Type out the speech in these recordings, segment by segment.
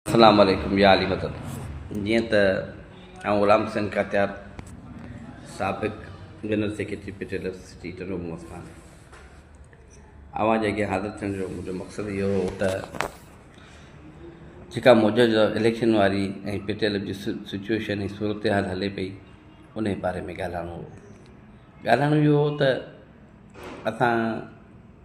اسلام عليڪم يا علي مدد جيئن ته آئون غلام حسين ڪاتيار سابق جنرل سيڪريٽري پيٽيلر سٽي ٽنڊو محمد خان اوهان جي اڳيان حاضر ٿيڻ جو منهنجو مقصد اهو هو ته جيڪا موجوده اليڪشن واري ۽ پيٽيلر جي سچويشن ۽ صورتحال هلي پئي ان باري ۾ ڳالهائڻو هو ڳالهائڻو اهو هو ته اسان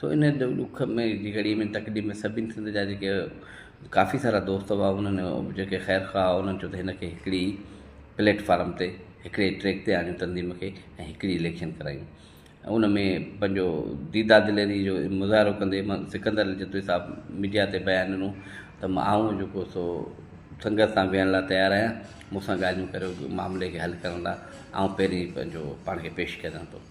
سو ان ڏک جي گهڙي ۾ تڪليف ۾ سڀني سنڌ جا جيڪي ڪافي سارا دوست هئا انهن جيڪي خير خواهه هئا انهن چيو ته هن کي هڪڙي پليٽ فارم تي هڪڙي ٽريڪ تي آڻيون تنظيم کي ۽ هڪڙي اليڪشن ڪرايون ۽ ان ۾ پنهنجو ديدا دليري جو مظاهرو ڪندي مان سڪندر جتوئي صاحب ميڊيا تي بيان ڏنو ته آئون جيڪو سو سنگت سان ويهڻ لاء تيار آهيان مون سان ڳالهيون ڪريو معاملي کي حل ڪرڻ لاء آئون پهرين پنهنجو پاڻ کي پيش ڪريان ٿو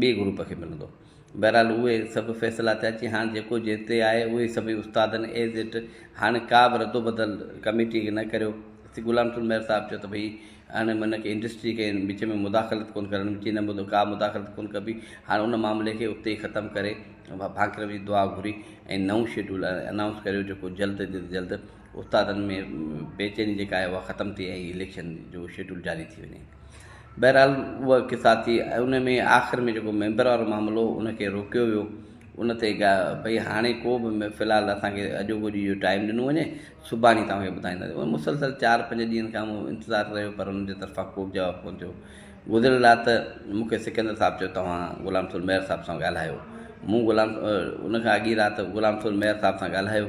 ٻئي گروپ کي ملندو. بهرحال اهي سڀ فيصلا ٿيا چي هاڻ جيڪو جنهن تي آهي اهي سڀئي استادن ايز اٽ هاڻي ڪا به رد و بدل ڪميٽي کي نه ڪريو تي غلام رسول مهر صاحب چيو ته ڀئي هاڻي هن کي انڊسٽري کي وچ ۾ مداخلت ڪونه ڪرڻ چي نه مدو ڪا مداخلت ڪونه ڪبي هاڻي ان معاملي کي اتي ئي ختم ڪري ڀانڪر وڃي دعا گهري ۽ نئون شيڊول انائونس ڪريو جيڪو جلد جلد استادن ۾ بيچيني جيڪا آهي اها ختم ٿئي ۽ اليڪشن جو شيڊول جاري ٿي وڃي بهرحال اها قصا ٿي ان ۾ آخر ۾ جيڪو ميمبر وارو معاملو ان کي روڪيو ويو ان تي گا بھي هاڻي کو به في الحال اسان کي اڄوڪو ڏينهن جو ٽائيم ڏنو وڃي سڀاڻي توهان کي ٻڌائينداسين ان مسلسل چار پنج ڏينهن کان مون انتظار رهيو پر ان جي طرفان ڪو به جواب ڪونه ٿيو گذريل رات مون کي سڪندر صاحب چيو توهان غلام سول مير صاحب سان ڳالهايو مون غلام ان کان اڳي رات غلام سول مير صاحب سان ڳالهايو